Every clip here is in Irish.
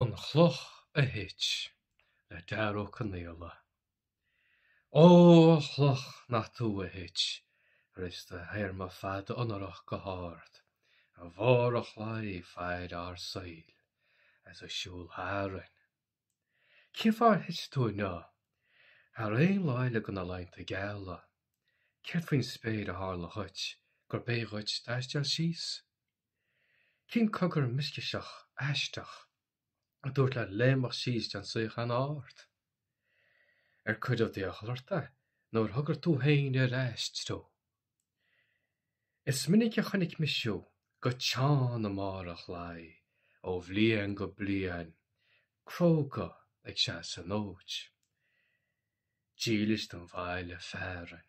An Chloch a Thit, le Dara Ó Conaola. Ó, a chloch nach tú a thit, tar éis do théarma fada onórach go hard, i mbarr an chlaí fad ár saoil, as a siúl tharainn. Cén fáth ar thit tú inniu, thar aon lá eile de na laethanta geala? Céard faoin spéir a tharla dhuit, gurb éigean dhuit taisteal síos? Cén cogar mioscaiseach aisteach a dúirt leat léimeadh síos den suíochán ard? Ar cuireadh d'iachall ort é nó ar thogair tú féin an t-aistriú? Is minic a chonaic mise thú go teann i mbarr an chlaí ó bhliain go bliain, cróga ag seasamh an fhóid, dílis don bhaile fearainn.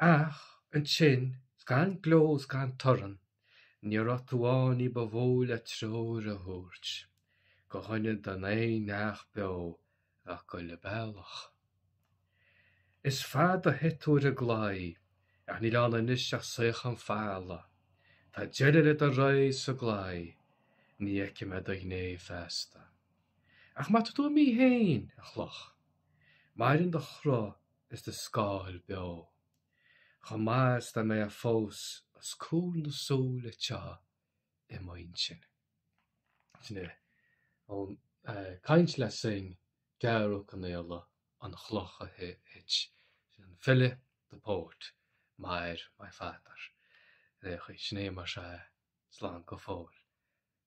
Ach ansin, 's gan gleo 's gan torann, ní raibh tú ann ní ba mhó le treoir a thabhairt do dhuine ná d'aon neach beo a bheadh ag goil an bealach. Is fada a chaith tú ar an gclaí, ach níl ann anois ach suíochán folamh. Tá deireadh le do ré sa gclaí, ní fheicfidh mé do ghné feasta. Ach má tá tú imithe féin, a chloch, maireann do chruth. is do scáil beo. Chomh maith is dá mbeifeá fós os comhair na súl atá i m'intinn. Sin é, ón gcaint le sing, Dara Ó Conaola, An Chloch a Thit, sin an file, the poet, m'athair, my father, ar aon chaoi. Sin é, más ea, slán go fóill.